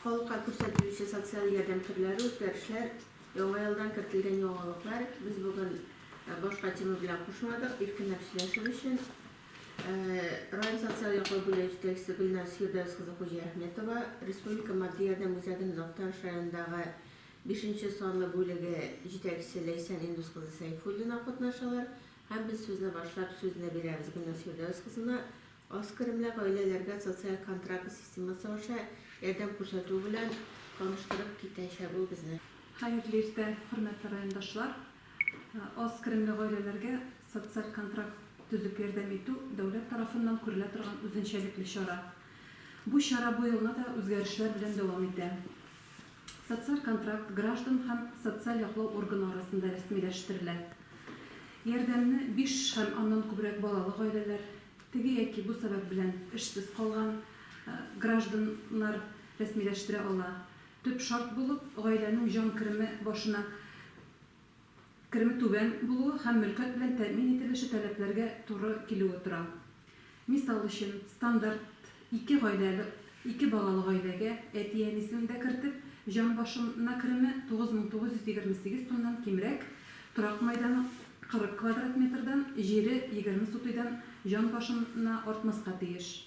Халыкка күрсәтелүче социаль ярдәм төрләре, үзгәрешләр, Яңа елдан кертелгән яңалыклар Без бүген башка тема белән кушмадык, иркенләп сөйләшер өчен. Район социаль яклау бүлеге җитәкчесе Гөлназ Фирдәвес кызы Хуҗиәхметова, Республика матди ярдәм үзәгенең Актаныш районындагы бишенче санлы бүлеге җитәкчесе Ләйсән Индус кызы Сәйфуллина катнашалар һәм без сүзне башлап, сүзне бирәбез Гөлназ Фирдәвес кызына. Аз керемле гаиләләргә социаль контракт системасы аша ярдәм күрсәтү белән таныштырып китәчәк ул безне. Хәерле иртә, хөрмәтле райондашлар! Аз керемле гаиләләргә социаль контракт төзеп ярдәм итү дәүләт тарафыннан күрелә торган үзенчәлекле чара. Бу чара бу елны да үзгәрешләр белән дәвам итә. Социаль контракт граждан һәм социаль яклау органы арасында рәсмиләштерелә. Ярдәмне биш һәм аннан күбрәк балалы гаиләләр, теге яки бу сәбәп белән эшсез калган гражданнар рәсмиләштерә ала. Төп шарт булып, гаиләнең җан кереме башына кереме түбән булуы һәм мөлкәт белән тәэмин ителеше таләпләргә туры килүе тора. Мисал өчен, стандарт ике гаиләле ике балалы гаиләгә, әти-әнисен дә кертеп, җан башына кереме 9928 сумнан кимрәк, торак мәйданы 40 квадрат метрдан, җире егерме сутыйдан җан башына артмаска тиеш.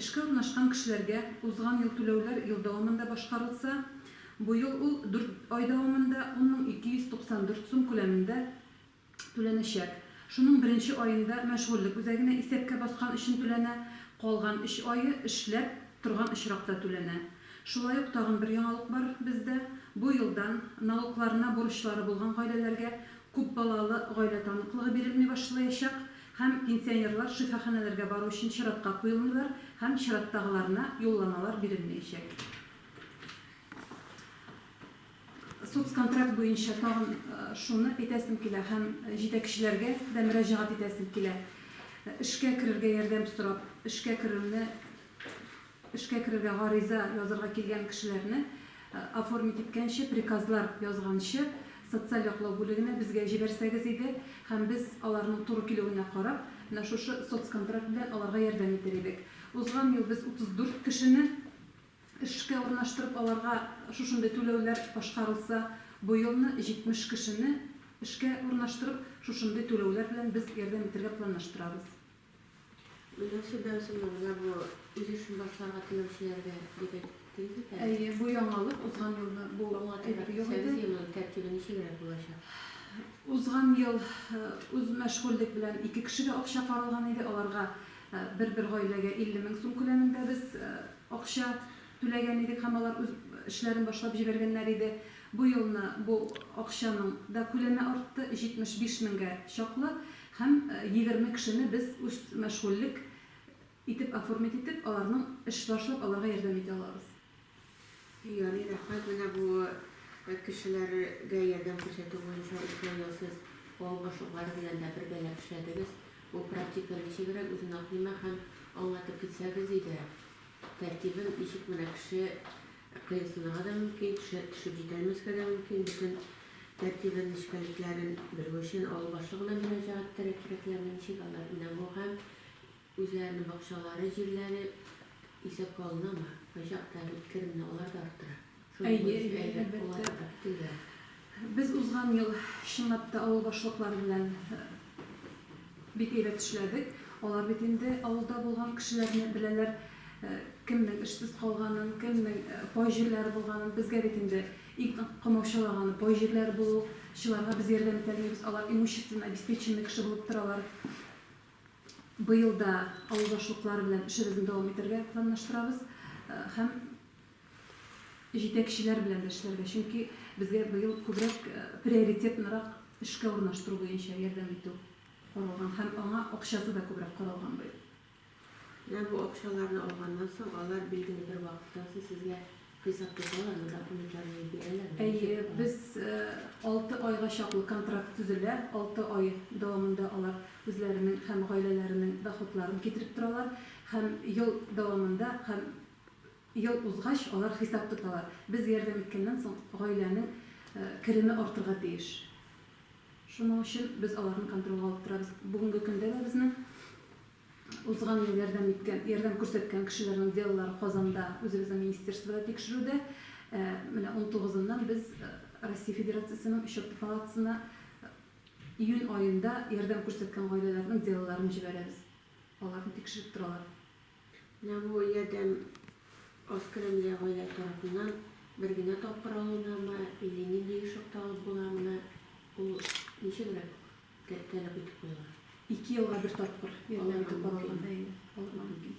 Эшкә урнашкан кешеләргә узган ел түләүләр ел дәвамында башкарылса, быел ул дүрт ай дәвамында ун мең ике йөз туксан дүрт сум күләмендә түләнәчәк. Шуның беренче аенда мәшгульлек үзәгенә исәпкә баскан өчен түләнә, калган өч ае эшләп торган очракта түләнә. Шулай ук тагын бер яңалык бар бездә, бу елдан налогларына бурычлары булган гаиләләргә күпбалалы гаилә таныклыгы бирелми башлаячак, һәм пенсионерлар шифаханәләргә бару өчен чиратка куелмыйлар һәм чираттагыларына юлламалар бирелмәячәк. Соцконтракт буенча тагын шуны әйтәсем килә һәм җитәкчеләргә дә мөрәҗәгать итәсем килә, эшкә керергә ярдәм сорап, эшкә керүне Эшкә керергә гариза язырга килгән кешеләрне оформить иткәнче, приказлар язганчы, социаль яклау бүлегенә безгә җибәрсәгез иде, һәм без, аларның туры килүенә карап, менә шушы соцконтракт белән аларга ярдәм итер идек. Узган ел без 34 кешене эшкә урнаштырып, аларга шушындый түләүләр башкарылса, бу елны 70 кешене эшкә урнаштырып, шушындый түләүләр белән без ярдәм итәргә планлаштырабыз. Миләүшә Бәүзиновна, бу үз эшен башларга теләүчеләргә дип әйттегез бит әле. Әйе, бу яңалык, узган елны бу әйбер юк иде. Аңлатырга теләсәгез, тәртибе ничегрәк булачак? Узган ел үз мәшгульлек белән ике кешегә акча каралган иде, аларга бер-бер гаиләгә 50 мең сум күләмендә без акча түләгән идек һәм алар үз эшләрен башлап җибәргәннәр иде. Бу елны бу акчаның да күләме артты, 75 меңгә чаклы. Һәм егерме кешене без үз мәшгульлек итеп оформить итеп, аларның эш башлап алырга ярдәм итә алабыз. Ярый, рәхмәт. Менә бу кешеләргә ярдәм күрсәтү буенча эшләү ясыйс, авыл башлыклары белән дә бергәләп эшләдегез. Бу практика ничегрәк, үзен аклыймы һәм аңлатып китсәгез иде, тәртибен, ничек менә кеше Ә кыенсынырга да мөмкин, төшә, төшеп җитәлмәскә дә мөмкин. Бөтен тәртибен, нечкәлекләрен белү өчен авыл башлыгына мөрәҗәгать итәргә кирәкләрме, ничек алар менә бу һәм үзләренең бакчалары, җирләре исәпкә алынамы? Кайчакта бит керемне алар да арттыра. Шуның Әйе, өчен әйе, әйбәт әлбәттә. буларга да, көтелгән. Без узган ел чынлап та авыл башлыклары белән бик әйбәт эшләдек. Алар бит инде авылда булган кешеләрне беләләр, кемнең эшсез калганын, кемнең пай җирләре булганын. Безгә бит инде иң комаучалаганы пай җирләре булу. Чыларга без ярдәм итә алмыйбыз, алар имущественно обеспеченный кеше булып торалар. Быел да авыл башлыклары белән эшебезне дәвам итәргә планлаштырабыз һәм җитәкчеләр белән дә эшләргә, чөнки безгә быел күбрәк приоритетнырак эшкә урнаштыру буенча ярдәм итү каралган һәм аңа акчасы да күбрәк каралган быел. Менә бу акчаларны алганнан соң, алар билгеле бер вакыттан соң сезгә хисап тоталармы, документларны бирәләрме? Әйе, без алты айга чаклы контракт төзелә, алты ай дәвамында алар үзләренең һәм гаиләләренең доходларын китереп торалар һәм ел дәвамында һәм Ел узгач, алар хисап тоталар. Без ярдәм иткәннән соң, гаиләнең кереме артырга тиеш. Шуның өчен без аларны контрольгә алып торабыз. Бүгенге көндә дә безнең узган ел ярдәм иткән, ярдәм күрсәткән кешеләрнең делолары Казанда, үзебезнең министерствода тикшерүдә. Менә унтугызыннан без Россия Федерациясенең Счетный палатасына июнь аенда ярдәм күрсәткән гаиләләрнең делоларын җибәрәбез. Аларны тикшереп торалар. Нәвоиядән Оскаремле гаилә тарафыннан бер генә тапкыр алынамы, или нинди ешыкта алып буламыны, ул ничегрәк тә тәләп итеп куела? Ике елга бер тапкыр, алып итеп каралган, әйе, алырга мөмкин.